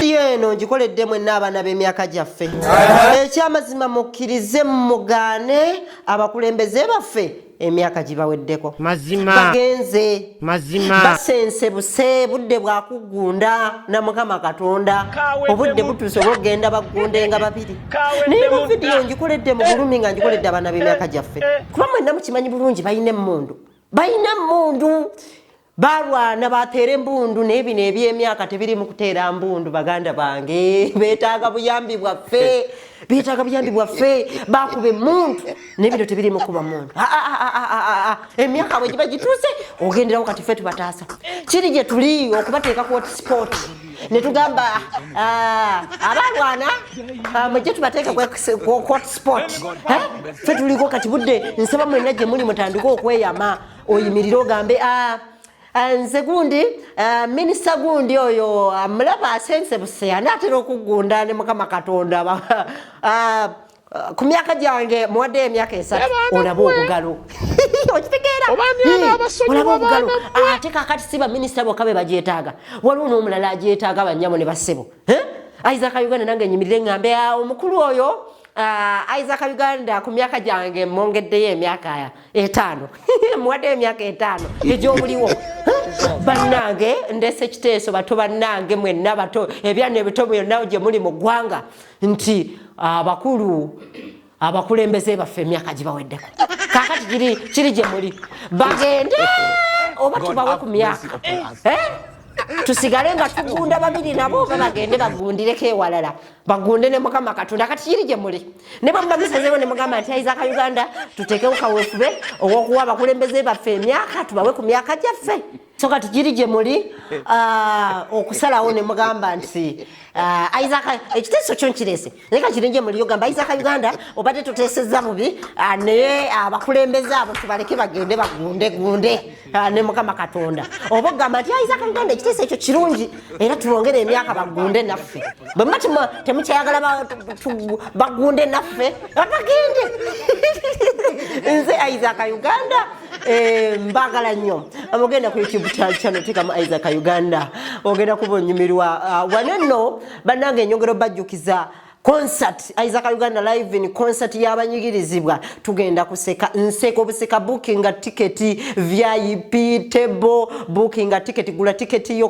vidiyo eno ngikoledde mwenna abaana b'emyaka gyaffe ekyamazima mukkirize mugaane abakulembeze baffe emyaka gibaweddeko bagenze basense buse budde bwakuggunda na mukama katonda obudde butuuse oba okugenda baggundenga babiri naye mu vidiyo ngikoledde mu bulumi nga ngikoledde abaana b'emyaka gyaffe eh. kuba mwenna mukimanyi bulungi balina emmundu balina emmundu balwana bateera embundu naye bino ebyemyaka tebirimu kuteera mbundu baganda bange betaaga buyambi bwaffe betaaga buyambi bwaffe bakuba emuntu naye bino tebirimu kuba muntu ah, ah, ah, emyaka bwe giba gituuse ogenderawo kati fe tubataasa kiri gye tuli okubateeka ku hotspot ne tugamba abalwana mujje tubateeke ku hotspot fe tuliko kati budde nsaba mwenna gye muli mutandike okweyama oyimirire ogambe ah, ah, nze gundi ah, minisita gundi oyo mulaba asensebuse ani atera okugunda ne mukama katonda ku myaka gyange muwaddeyo emyaka esatu olaba obugalo okitegeera olaba obugalo ate kakati si baminisita bokka be bagyetaaga waliwo n'omulala agyetaaga banyabo ne bassebo isaac uganda nange nyimirire ngambe omukulu oyo isaac uganda ku myaka gyange mwongeddeyo emyaka etaano muwaddeyo emyaka etaano egyobuliwo bannange ndese kiteeso bato bannange mwenna bato ebyana ebito byonna gye muli mu ggwanga nti abakulu abakulembeze baffe emyaka gibaweddeko kakati kiri gye muli bagende oba tubawe ku myaka tusigale nga tugunda babiri nabo oba bagende bagundireko ewalala bagunde ne mukama katonda kati kiri gye muli ne bwe muba musazeewo ne mugamba nti ayiza ka uganda tuteekewo kaweefube ow'okuwa abakulembeze baffe emyaka tubawe ku myaka gyaffe so kati giri gye muli ah, okusalawo ne mugamba nti ah, isaka ekiteeso kyo nkirese naye kakiri gye muli ogamba isaka uganda obadde tuteesezza bubi ah, naye abakulembeze abo tubaleke bagende bagundegunde Ah, ne mukama katonda oba ogamba nti ayinza kauganda ekiteeso ekyo kirungi era tubongere emyaka bagunde naffe bwemba temukyayagala bagunde naffe abagende nze isaac uganda eh, mbagala nnyo amugenda ku youtube channel tekamu isaac uganda ogenda kuba onyumirwa ah, wanenno banange enyongera obajjukiza concert isaac uganda live in concert yabanyigirizibwa tugenda kuseka nseka obuseka bookinga tiketi vip table bookinga tiketi gula tiketi yo